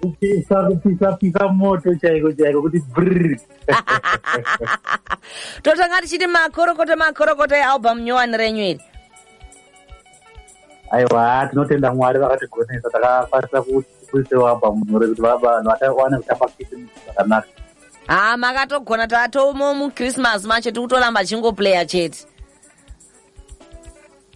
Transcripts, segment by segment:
kupisa kupisa pisa moto chaiko chaiko kuti brr totanga tichiti makorokoto makorokoto ealbum nyowani renyu iri aiwa tinotenda mwari vakatigonesa takakwanisa kuisewo album nyore kuti vaba vanhu vatawane kutamba kiti zvakanaka haa makatogona tatomo muchristmas macho tiri kutoramba chingoplaya chete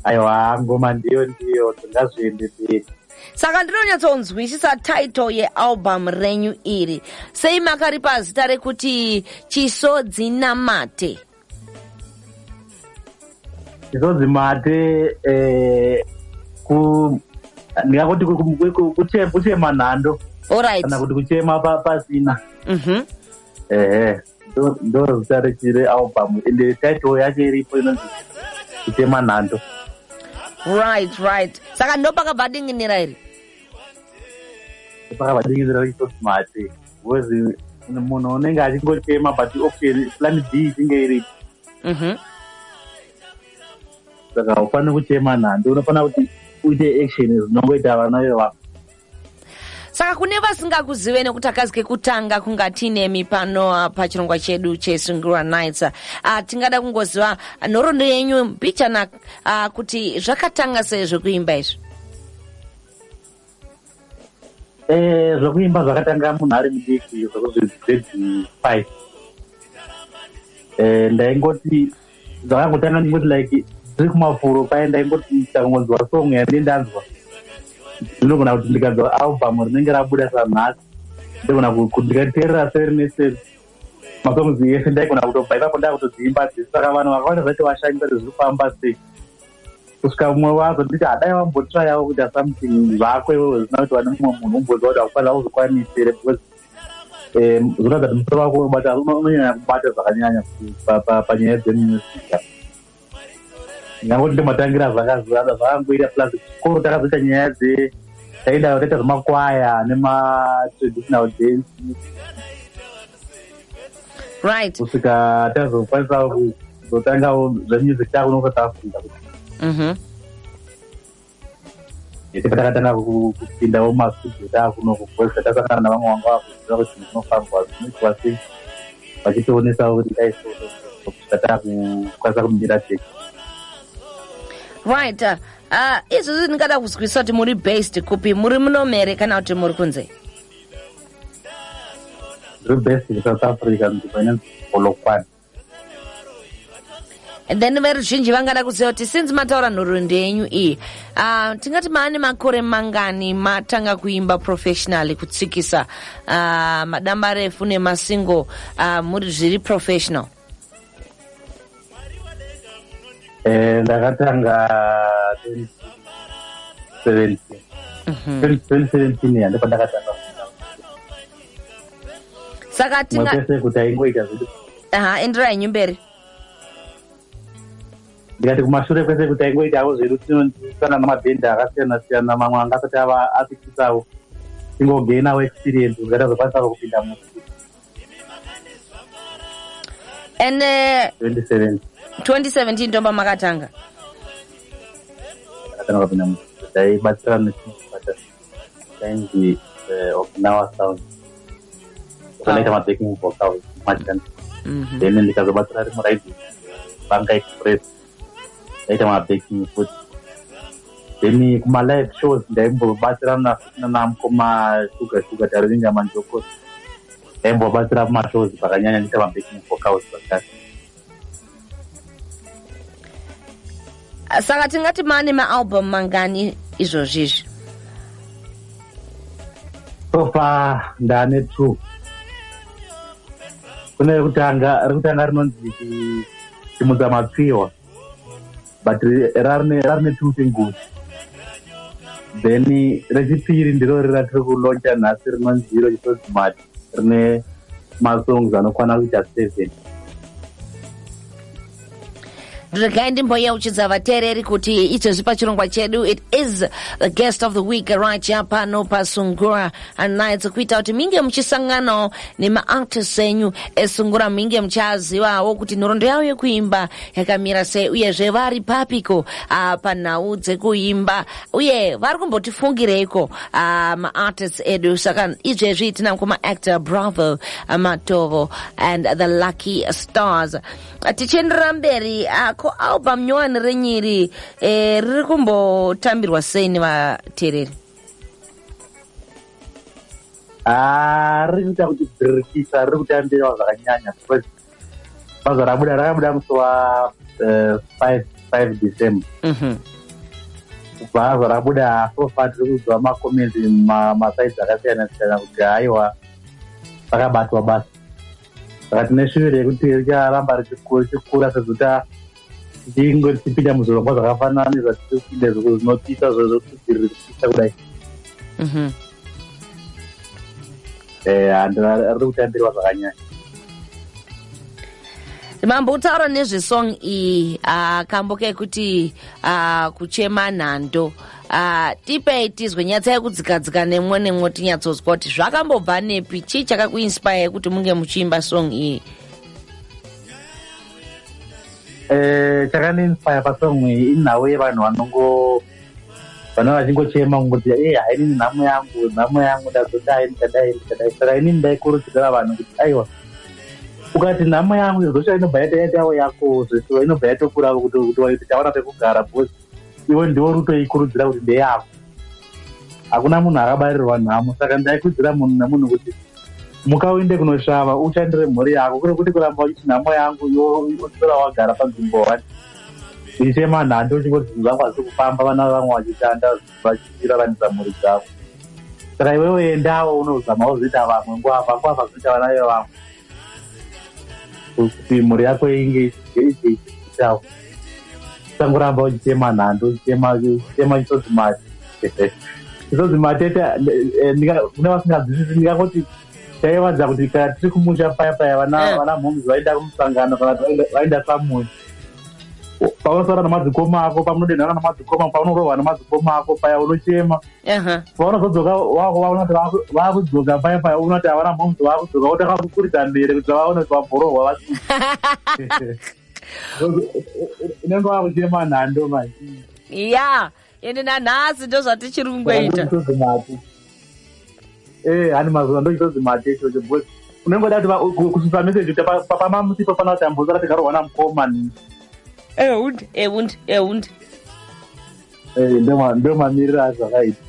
aiwa ngoma ndiyo ndiyo tingazviende mberi saka ndinonyatsonzwisisa title yealbum renyu iri sei makaripa zita rekuti chisodzi namate chisodzi mate eh, ku ndingakuti ku- ku- ku- ku- kuche- kuchema nhando orit kana kuti kuchema pa- pasina mm -hmm. ehe ndoro zita rechire album ende title yake iripo inonzi kutema nhando right right saka ndopakabva adinginira iri pakabva dinginira rechitosmati bcause munhu unenge achingotema but option plan b ichinge iripo mhm. saka ufanire kuchema nhando unofanira kuti uite action zinongoita vana vevako saka kune vasingakuzive nekuti akazi kekutanga kunga tiinemi pano ah, pachirongwa chedu chesungirwa nights uh, ah, tingada kungoziva nhoroondo yenyu mbichana uh, kuti zvakatanga sei zvekuimba izvi eh, zvekuimba e, zvakatanga munhu ari mudiki zvekuzvezezi five e, eh, ndaingoti dzakangotanga ndingoti like tiri kumafuro paye ndaingoti ndakangonzwa song yandie ndanzwa ndinogona kuti ndikanzwa album rinenge rabuda sanhasi ndogona kuti ndikateerera seri neseri masongs yese ndaigona kutobva ipapo ndakutodziimba dzese saka vanhu vakawanda zvacho vashanyisa kuti zviri kufamba sei kusvika mumwe wazo nditi hadai vambotrayawo kuita something zvako iwewe zvisina kuti vane mumwe munhu umboziva kuti akufanira kuzvikwanisire because zvinoratidza kuti musoro wako unobata unonyanya kubata zvakanyanya panyaya dzemusica nyangoti ndimatangira zvakangoita plus chikoro takazoita nyaya dze taida taita zvemakwaya nematraditional dance right kusvika tazokwanisa kuzotangawo zvemusic takunokusafunda mhm. ese pataratanga kupindawo mastudio taakuno kuvoice tasangana navamwe vanga vakuziva kuti zvinofambwa zvinoitwa sei vachitionesawo kuti ndaisokusvika taakukwanisa kumira teki right uh, uh, izvozvi ndingada kuzwisisa kuti muri based kupi muri munomere kana kuti muri kunze ndiri based kusouth africa nzvimbo inonzi polokwane then veruzhinji vangada kuziva kuti since mataura nhoroondo yenyu iyi uh, tingati maane makore mangani matanga kuimba professionally kutsikisa uh, madamba refu nemasingo uh, ah, muri zviri professional eh, ndakatanga 2017 2017 yandiko ndakatanga saka tingapese kuti aingoita zvedu aha enderai nyu mberi ndikati kumashure kwese kuti aingoitawo zvedu tinondiisana namabhenda akasiyana siyana mamwe anga asati ava apitisawo tingogeinawo experience kuti atazokwanisavo kupinda musi and uh, 2017 2017 ndomba makatanga akatanga kupinda musi taibatsirana tichibata Kanji eh, Okinawa sound. Kanaita ma backing vocal machani. Mhm. Then ndikazobatsira rimwe raidi Banga Express. Ndaita ma backing futi. Then kuma live shows ndaimbobatsirana futi nana mkoma Sugar Sugar Tarivinga Manjoko. Ndaimbobatsira kuma shows pakanyanya ndiita ma backing vocals pakati. saka tingati mane maalbum mangani izvozvi izvi sofa ndane two kune rekutanga rekutanga rinonzi chimudza matsiwa but rarine two singles then rechipiri ndiro rira tiri kuloncha nhasi rinonzi iro chitozi mati rine masongs anokwana kuita seven regai ndimbouchidza vateereri kuti izvezvi pachirongwa chedu it is the guest of the week right ya pano pasungura nights kuita kuti minge muchisanganawo nemaartist enyu esungura minge muchazivawo kuti nhorondo yavo yekuimba yakamira sei uyezve vari papiko ah, panhau dzekuimba uye vari kumbotifungireiko uh, ah, maartists edu saka izvezvi tina kumaactor bravo ah, matovo and the lucky stars ah, tichienderera mberi ko album nyowani renyiri eh, riri kumbotambirwa sei nevateereri riri kuita kuti birikisa riri kutambirwa zvakanyanya because baza rabuda rakabuda musi wa eh, five five december Mhm. baza rabuda so far tiri kuziva macomments ma- masaidzi akasiyana siyana kuti haiwa rakabatwa basa saka tine shuviro yekuti richaramba richiku- richikura sezita ndingotipinda muzvirongwa zvakafanana nezvatiri kupinda zviko zvinopisa zvozokudziriri kupisa kudai mhm. eh, handu ari kutambirwa zvakanyanya mambo utaura nezvesong iyi ah, kambo kekuti ah, kuchema nhando ah, tipei tizwe nyatsai kudzikadzika nemwo nemwo tinyatsonzwa kuti zvakambobva nepi chii chakakuinspire kuti munge muchiimba song iyi eh, chakandiinspire pasong iyi inhau yevanhu vanongo vana vachingochema kungozi e eh, hainini nhamo yangu nhamo yangu ndazodai ndichadai ndichadai saka inini ndaikurudzira vanhu kuti aiwa ukati nhamo yangu izosvika inobva yataitawo yako zvesiwa inobva yatokuravo kuti waiti tawana pekugara bcause iwe ndiwo rutoikurudzira kuti ndeyako hakuna munhu akabarirwa nhamo saka ndaikudzira munhu nemunhu kuti muka uinde kunosvava ushandire mhuri yako kure kuti kuramba uchiti nhamo yangu yotora wagara panzvimbo one ichema nhandi uchingoti zvinhu zvangu hazvi kufamba vana vevamwe vachishanda vachiraranisa mhuri dzavo saka iwewe endawo unozama uzoita vamwe nguva vako avazoita vana vevamwe kuti mhuri yako inge ichiitawo usangoramba uchichema nhando uchichema uchichema chitoti mari chitoti matete eh, kune vasinganzwisisi ndingangoti taivanza kuti kana tiri kumusha paya paya vana eh. vana mhoms vaenda kumusangano kana vaenda samuya paunosara namadzikoma ako pamunodenhana namadzikoma paunorova namadzikoma ako paya unochema vaunozodzoka vakuvaona kuti vakudzoka paya paya uona kuti havana momzi vakudzoka votanga kukuridza mbere kuti vaone kuti vabhorohwa va unenge vakuchema nhando mai ya ende nanhasi ndo zvatichiri kungoita ee hani mazuva ndochitozi mate ichocho bcause unenge woda kuti kususa meseji kuti pamamusi pafana kuti ambozara tikarohwana mukoma ni ehund ehund ehund Eh, ndoma- ndomamiriro azvakaita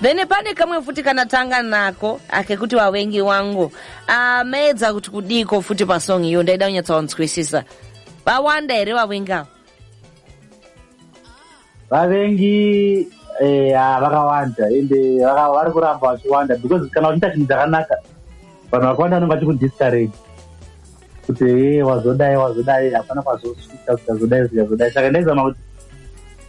then pane kamwe futi kana tanga nako akekuti vavengi wangu Ah, maedza kuti kudiiko futi pasong iyo ndaida kunyatsawanzwisisa vawanda here vavengi avo vavengi eh, ah, vakawanda ende vaka- vari kuramba vachiwanda because kana uchiita chinhu chakanaka vanhu vakawanda vanenge vachikudiscourage kuti ee eh, wazodai wazodai hapana kwazosvika zvichazodai zvichazodai saka ndaizama kuti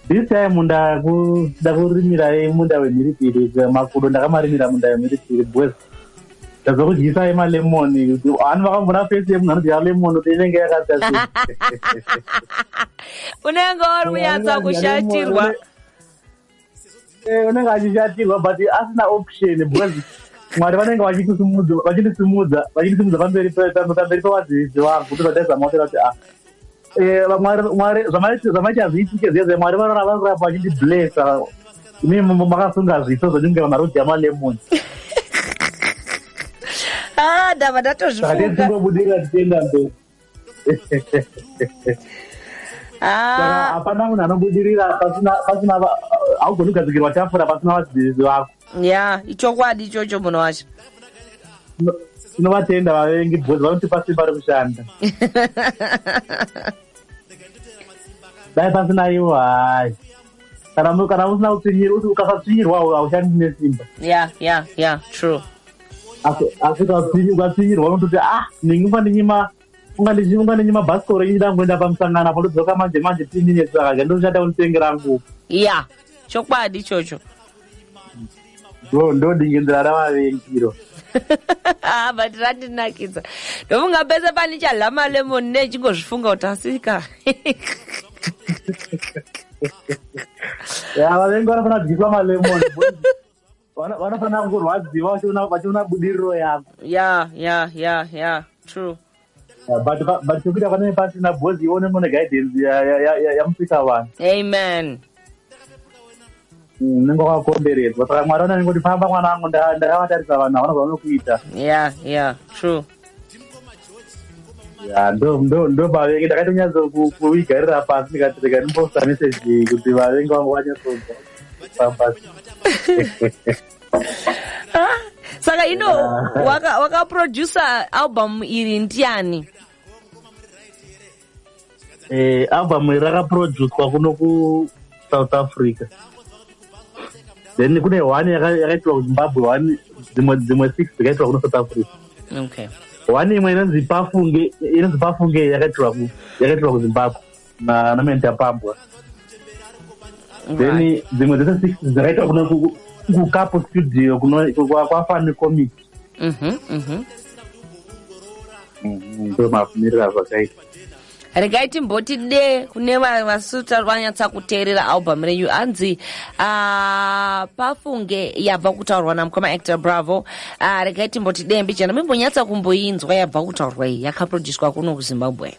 this time ndakuda kurimira munda wemhiripiri makudo ndakamarimira munda wemhiripiri bcause ndazokudyisa emalemon ani vakambona fesi yemunhu anodya lemon kuti inenge yakazia unenge wari kunyatsa kushatirwa Eh, unenge achishatirwa but asina option because mwari vanenge vachitisimudza vachitisimudza vachitisimudza pamberi pe- pam- pamberi pevadzivisi vangu kuti zvataizama kuti vati ah Eh, Mwari- Mwari- zvamai- zvamaiti hazviitike zviya zviya mwari vanora vari kuramba vachindiblesa mi makasunga zviso zvekunge marudzi amalemoni ah ndava saka ndatozvifunga tisingobudirira tichienda mberi Ah. hapana munhu anobudirira pasina haugoni kugadzikirwa tafura pasina vadzidzisi vako ya ichokwadi ichocho munhu wacho tinovatenda vavengi bhozi vanotipa simba rekushanda dai pasina ivo hai kana kana usina kutsinyirwa ukasatsinyirwawo haushandi nesimba ya ya ya true asi asi ukatsinyirwa unototi ah ndingi unga ndinyima unga ndichi unga ndinyima bhasikoro ini ndangoenda pamusangano apo ndodzoka manje manje tiinini saka ndoshata unitengera nguva ya chokwadi ichocho bro ndodingindira ravavengiro ah, but randinakidza ndofunga pese pane chadla malemon ne chingozvifunga kuti asika ya vavengi vanofanira kudyiswa malemon vanofanira kungorwadziwa vachiona budiriro yako ya ya ya ya true Uh, but but but kuita pane pasi na boss ione mone guidance ya ya ya ya- yamusika vanhu amen Mm, ningo kwakomberedzwa saka mwari anenge kuti famba mwana wangu nda- ndakavatarisa vanhu havana zvavanokuita yeah yeah true Ya, ndo ndo ndo vavengi ndakatonyatsa ku- kuigarira pasi ndikati rega ndimbosa message kuti vavengi vangu vanyatsonzwa pambasi Ah, saka ino waka- wakaproducer album iri ndiani Eh, album iri rakaproducwa kuno kusouth africa then kune one yaka- yakaitwa kuzimbabwe one dzimwe dzimwe six dzikaitwa kuno south africa okay one imwe inonzi pafunge inonzi pafunge yakaitirwa ku- yakaitirwa kuzimbabwe na na menta pambwa then dzimwe dzese six dzakaitwa kuno kukapo studio kuno kwafani comic mhm mhm ndomakumirira mhm, zvakaita regai timboti de kune vasuta vanyatsa kuteerera album renyu hanzi ah, pafunge yabva kutaurwa namukoma actor bravo ah, regai timboti de mbijana mimbonyatsa kumboinzwa yabva kutaurwa iyi yakaproducwa kuno kuzimbabwe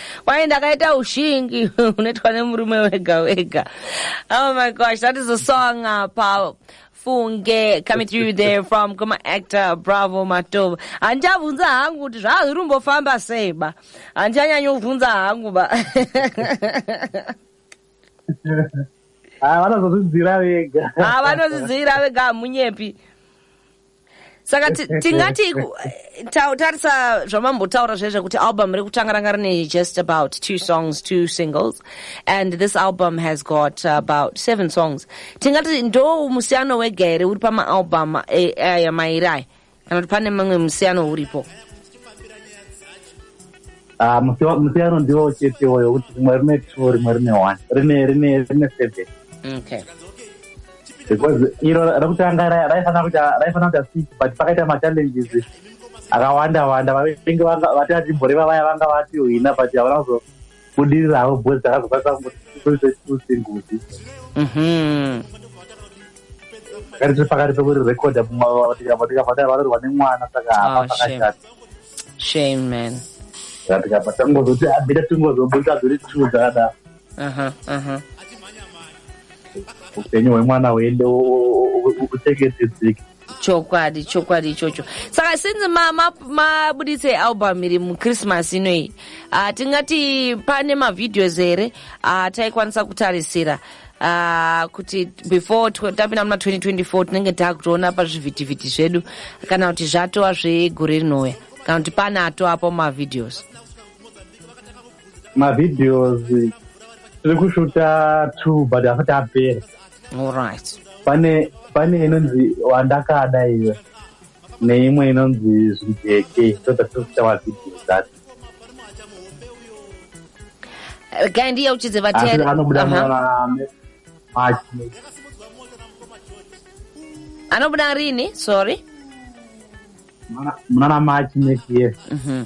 Kwai ndakaita ushingi unoitwa nemurume wega wega. Oh my gosh, that is a song apa. Funge coming through there from Goma actor Bravo Matovu. Handichabvunza hangu kuti zvazviri kumbofamba sei ba. Handichanyanya kuvhunza hangu ba. Ah, vanozozvidzira vega. Ah, vanozvidzira vega hamunyepi. saka tingati tarisa zvamambotaura zvaye zvekuti album iri kutanga ranga rine just about two songs two singles and this album has got about seven songs tingati ndo musiyano wega here uri pamaalbum eh, aya mairi aya kana kuti pane mamwe musiyano uripo ah, musiyano ndiwo chete woyo kuti rimwe rine two rimwe rine one rine rine rine seven okay because iro rekutanga raifanira kuita raifanira kuita six but pakaita machallenges akawanda wanda vainge vati atimboreva vaya vanga vatiwina but havana kuzobudirira havo bhozi dzakazokwanisa kuita two singles mhm. pakati tiri pakati pekuri recorda tikabvataa varorwa nemwana saka ah, hapa pakashata shame man tikabva tangozoti abida tingozobuda dziri two dzakadaro upenyu hwemwana uende uteketedzeke chokwadi chokwadi ichocho saka since mabuditsa ma, ma album iri muchristmas inoyi uh, tingati pane mavideos here ataikwanisa uh, kutarisira uh, kuti before tapinda muna 2024 tinenge takutoona pazvivhitivhiti zvedu kana kuti zvatova zvegore rinouya kana kuti pane atoapo mavideos mavideos tiri kushuta two but afati apera olright pane pane inonzi wandakada iwe neimwe inonzi zvijeke so that tiri kuita mavideos acho eh, kai ndiye uchidze vateri anobuda anobuda rini sorry munana machi next year mm -hmm.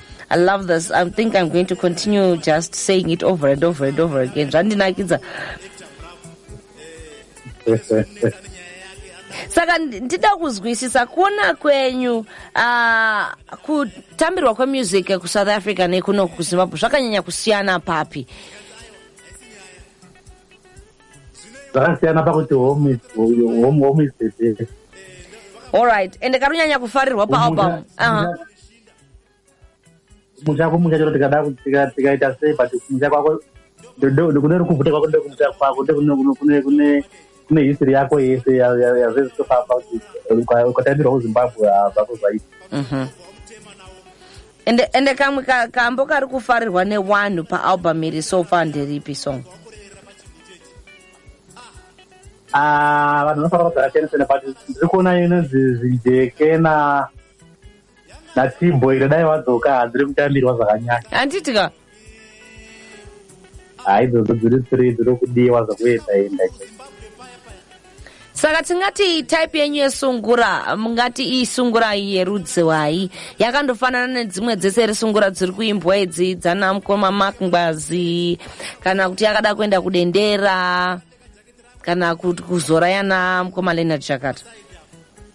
I love this. I think I'm going to continue just saying it over and over and over again. Zvandinakidza. saka ndida kuzwisisa kuona kwenyu ah, kutambirwa kwemusic kusouth africa nekuno kuzimbabwe zvakanyanya kusiyana papi zvakasiyana pakuti home is the best allright ende karunyanya kufarirwa paalbum kumusha kumusha chero tikada tikaita sei but kumusha kwako kune rukuvhute kwako ndekumusha kwako kune history yako yese yazvezvitofamba kuti ukatambirwa kuzimbabwe zvako zvaita mhm. ende ende kamwe kambo kari kufarirwa newanhu paalbum iri so far nderipi song ah, vanhu vanofarira zvakasiyana siyana but ndiri kuona inonzi zvijeke na natimbo iro dai wadzoka hanzi rekutambirwa zvakanyanya handiti ka hai dzodzo dziri three dzinokudiwa zvakuenda enda saka tingati type yenyu yesungura mungati iyi sungura yerudziwai yakandofanana nedzimwe dzese risungura dziri kuimbwa idzi dzana mukoma mark ngwazi kana kuti yakada kuenda kudendera kana kuti kuzora yana mukoma leonard chakata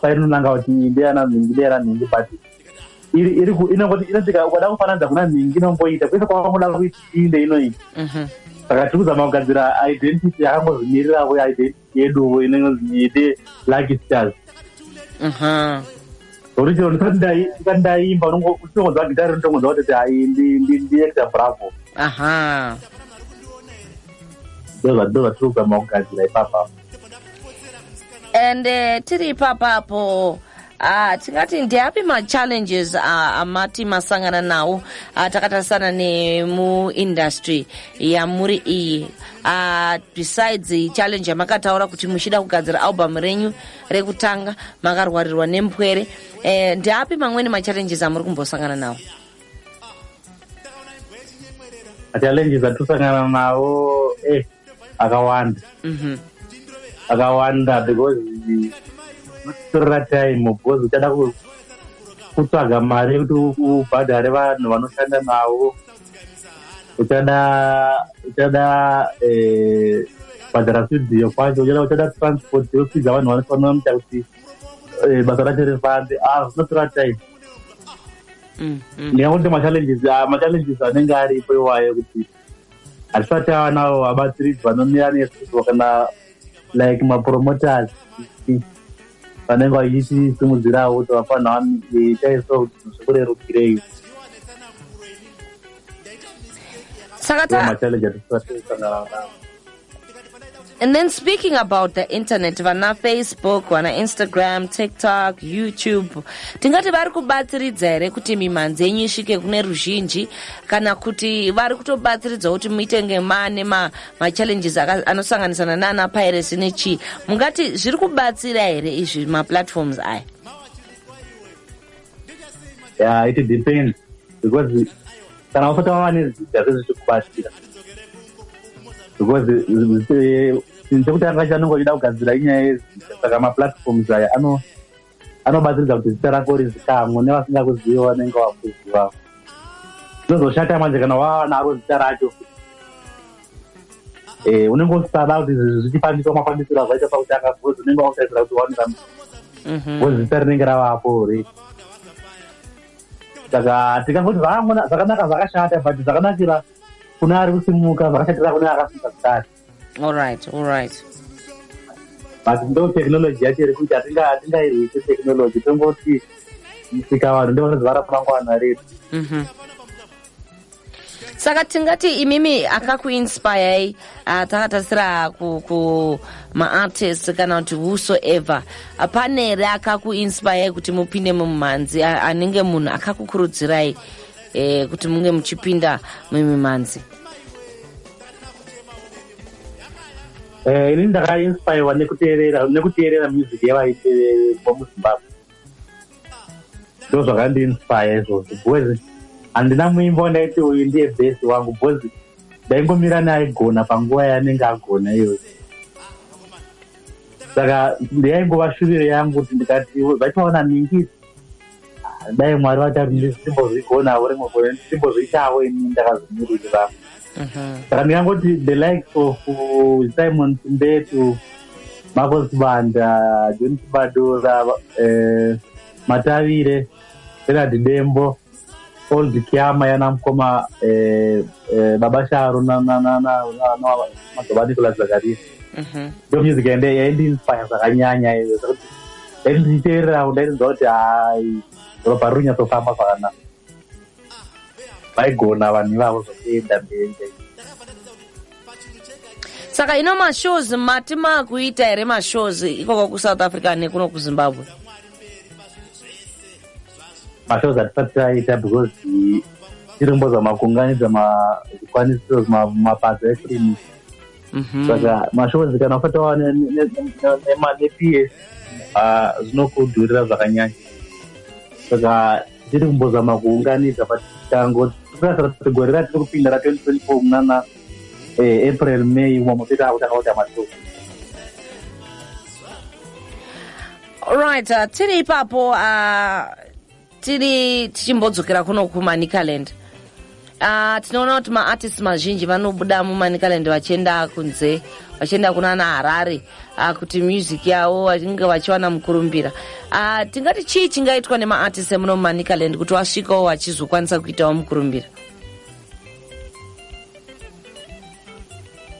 painonanga kuti ndeyana nhingi ndeyana nhingi but iri iri inongoti inotika ukada kufananidza kuna nhingi inongoita kwese kwavangoda kuiti inde inoita mhm. saka tiri kuzama kugadzira identity yakangozimirirawo identity yeduvo inonzi ite lucky stars mhm. zvokuti chero ndisati ndaimba unotongonzwa gitari unotongonzwa kuti hai ndiekta bravo ndozvatiri kuzama kugadzira ipapa and uh, tiri ipapapo Ah, tingati ndeapi machallenges ah, amati masangana nawo ah, takatarisana nemuindustry yamuri iyi ah, besides challenge yamakataura kuti muchida kugadzira album renyu rekutanga makarwarirwa nempwere eh, ndeapi mamweni machallenges amuri kumbosangana nawo machallenges atisangana nawo eh. akawanda mhm. akawanda because torera time because uchada kutsvaga mari yekuti ubhadhare vanhu vanoshanda navo uchada uchada eh, kubhadhara studio kwacho uchada uchada transport yokupidza vanhu vanofanira muita kuti eh, basa racho rifambe ah zvinotora time mm, mm. ndingakuti machallenges ah, machallenges anenge aripo iwayo kuti hatisati ava navo vabatsiridzi vanomira nesu kana like mapromoters vanenge vachitisimudzirawo kuti vafanira itaiso kuti zvikurerukirei saka ta And then speaking about the internet, vana Facebook, vana Instagram, TikTok, YouTube, tingati vari kubatsiridza here kuti mimhanzi yenyu isvike kune ruzhinji kana kuti vari kutobatsiridza kuti muite ngemane machallenges ma anosanganisana nana piracy nechii mungati zviri kubatsira here izvi maplatforms aya yeah it depends because kana usati wava nezita sezvichikubatsira because chekutanga eh, chanonge uchida kugadzira inyaya yezita saka maplatforms aya anobatsiridza kuti zita rako rizikamwe nevasingakuziva vanenge vakuziva zvinozoshata manje kana wava naro zita racho eh, unenge usada kuti zvichifambiswa mafambisiro azvaita pakutanga because unenge wautaisira kuti waonera mhm. because zita rinenge ravapo ri saka tikangoti zvakanaka zvakashata but zvakanakira kune ari kusimuka zvakashatira kune akasimuka zitati allright allright but ndo technology yacho iri kuita atingairwise technology tongoti musika vanhu ndovanoziva ramangwana redu mhm. saka tingati imimi akakuinspirei ah, takatarisira kumaartist kana kuti whosoever pane here akakuinspirei kuti mupinde mumhanzi anenge munhu akakukurudzirai e, kuti munge muchipinda mumimhanzi eh, ini ndakainspirewa nekuteerera nekuteerera music yevaite vomuzimbabwe ndo zvakandiinspire izvozvo because handina muimba wandaiti uyu ndiye best wangu because ndaingomira neaigona panguva yaanenge agona iyoyo saka ndiyaingova shuviro yangu kuti ndikati vachaona ningisi dai mwari vachati ndisimbozvigonavo rimwe gore ndisimbozviitavo ini ndakazomiririra mhm. saka ndikangoti the likes of uh, simon simbetu marcos banda john sibadora eh, matavire renard dembo old kiama yana mukoma eh, eh, baba sharo namadzobva nicolas zakaria mhm. ndo music yande yaindiinspire zvakanyanya iyo zvakuti ndaiti ndichiteererawo ndairinzwa kuti hai ropa ruri nyatsofamba zvakanaka vaigona vanhu ivavo zvokuenda mberi saka ino mashows mati makuita here mashows ikoko kusouth africa nekuno kuzimbabwe mashows hatisati taita because irombo dzamakunganidza zvikwanisiro mapadzo efirimu mhm. saka mashows kana usati wava neps ah, zvinokudhurira zvakanyanya saka tiri kumbozama kuunganidza but tango tirasara kuti gore ratiri kupinda ra 2024 munana eh, april may umo mototanga kutanga kuita matuku right uh, tiri ipapo uh, tiri tichimbodzokera kuno kumanicaland Uh, tinoona kuti maartist mazhinji vanobuda mumanicaland vachienda kunze vachienda kuna ana harare uh, kuti music yavo vachinge vachiwana mukurumbira uh, tingati chii chingaitwa nemaartist emuno mumanicaland kuti vasvikawo vachizokwanisa kuitawo mukurumbira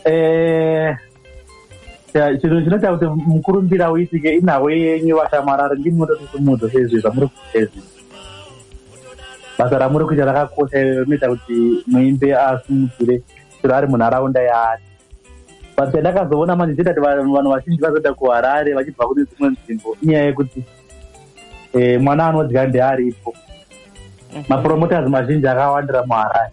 eh, chinhu chinoita kuti mukurumbira uitike inhavo yenyu vashamwarari ndimi mototisimudza sezvi zvamuri kuezi basa ramuri kuita rakakosha rinoita kuti muimbe asimudzire chero ari munharaunda yaari but chandakazoona manje chitati vanhu vazhinji vazoita kuharare vachibva kune dzimwe nzvimbo inyaya yekuti eh, mwana anodya ndearipo mm-hmm. mapromoters mazhinji akawandira muharare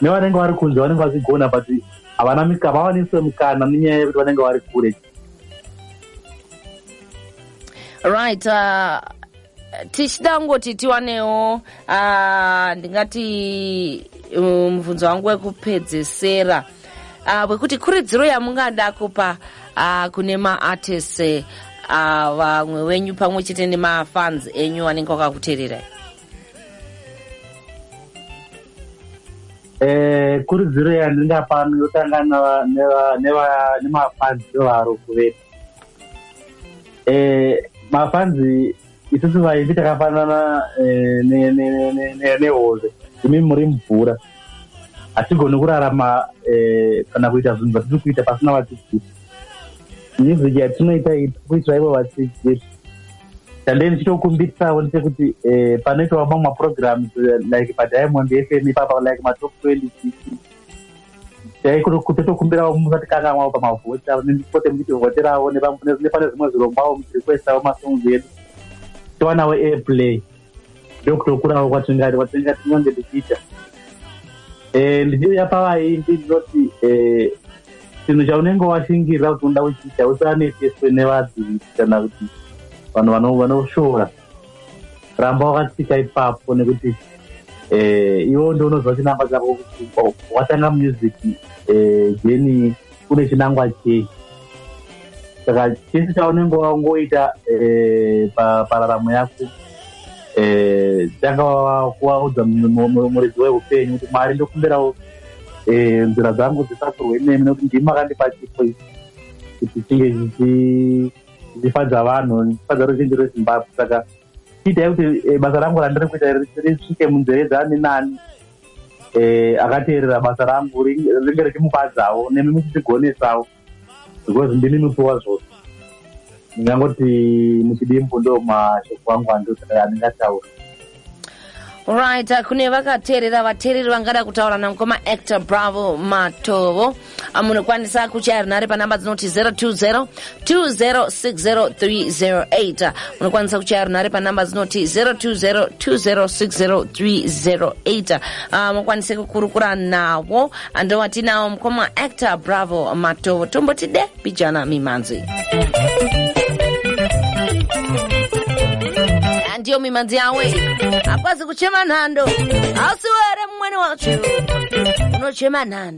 nevanenge vari kunze vanenge vachigona but havana mika havawanise mukana nenyaya yekuti vanenge vari kure right uh, tichida kungoti tiwanewo uh, ndingati uh, mubvunzo um, wangu wekupedzesera uh, wekuti kuridziro yamungada kupa uh, kune maartist uh, vamwe uh, wenyu pamwe chete nemafans enyu anenge wakakutererai Eh, kurudziro yandingapa yotanga neva- neva- neva- nemafanzi evaro kuvetu Eh, mafanzi isusu vaimbi takafanana eh, ne- ne- ne- ne- ne- nehove imi muri mvura hatigoni kurarama eh, kana kuita zvinhu zvatiri kuita pasina vatikuti music yatinoita kuitira ivo vadzidzi tandei ndichitokumbirisawo ndechekuti eh, panoitawo mamwe maprograms eh, like padiamond fm ipapa like matop twenty six daikutotokumbirawo musatikangamwawo pamavhota pote muchitivhoterawo nepane zvimwe zvirongwawo muchirequestawo masongs edu tiwanawo airplay ndokutokurawo kwatingati kwatinga tinyange tichiita eh, ndichiuya pavaimbi ndinoti eh, chinhu chaunenge washingirira kuti unoda kuchiita usaneteswe nevadzivisi kana kuti vanhu vanoshora ramba wakatsika ipapo nekuti eh, iwo ndounoziva chinamba chako kuti oh, watanga music eh, jeni kune chinangwa chei saka chese chaunenge wangoita eh, pararamo yako eh, tanga kuvaudza muridzi weupenyu kuti mwari ndokumbirawo eh, nzira dzangu dzisakurwe nemi nekuti ndimi makandipa chipo kuti chinge zvichifadza vanhu ndifadza ruzhinji rwezimbabwe saka chiitai kuti basa rangu randiri kuita risvike munzeve dzani nani eh, akateerera basa rangu ringe richimufadzawo nemi muchitigonesawo because ndimi mupiwa zvose ndingangoti muchidimbu ndo mashoko angu andingataura right kune vakateerera vateereri vangada kutaura namukoma actor bravo matovo Ah, munokwanisa kuchaya runhare panhamba dzinoti 020 2060308 munokwanisa kuchaya runhare panhamba dzinoti 020 2060308 ah, mukwanise kukurukura navo andowatinawo mukoma actor bravo matovo tombotide bijana mimhanzi ndiyo mimanzi yawe akwazi kuchema nhando hausiwere mumwene wacho unochema nhando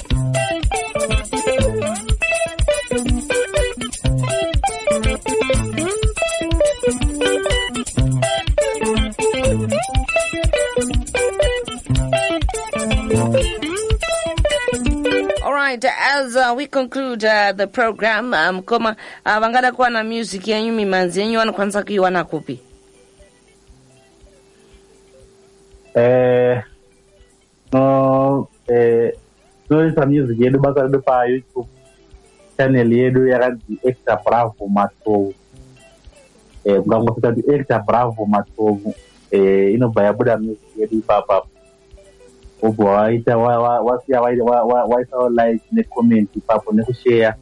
right as uh, we conclude uh, the program uh, mkoma um, uh, vangada kuwana music yenyu mimanzi yenyu vanokwanisa kuiwana kupi eh eh, tinoisa music yedu basa redu payoutube channel yedu yakanzi extra bravo matovu eh, kungangosvika kuti extra bravo matovu eh, inobva yabuda music yedu ipapa obva waita wasiya waisa like necomment ipapo nekusheya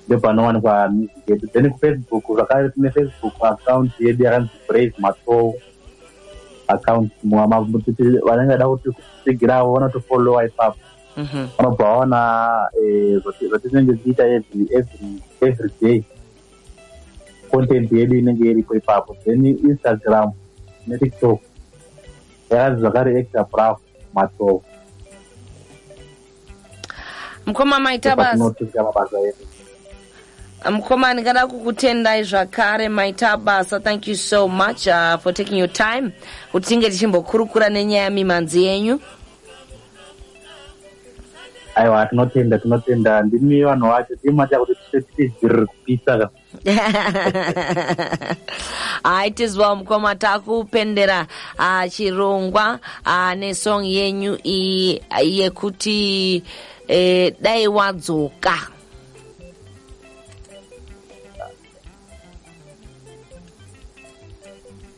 ndopanowanikwa music yedu then kufacebook zvakare tine facebook account yedu yakanzi brave masoul account kuti vanenge vada kuti kusigiravo vanotofollowa ipapo mhm. vanobva vaona eh, zvatinenge tichiita every day content yedu inenge iripo ipapo then instagram netiktok yakanzi zvakare extra bravo masoul mukoma maita basa mukoma ndingada kukutendai zvakare maita basa thank you so much uh, for taking your time kuti tinge tichimbokurukura nenyaya mimhanzi yenyu aiwa tinotenda tinotenda ndimi vanhu vacho ndimi matira kuti tiite dziririkupisa ka hayi tizwa mukoma takupendera ah, chirongwa ah, nesong yenyu iyi ah, yekuti eh, dai wadzoka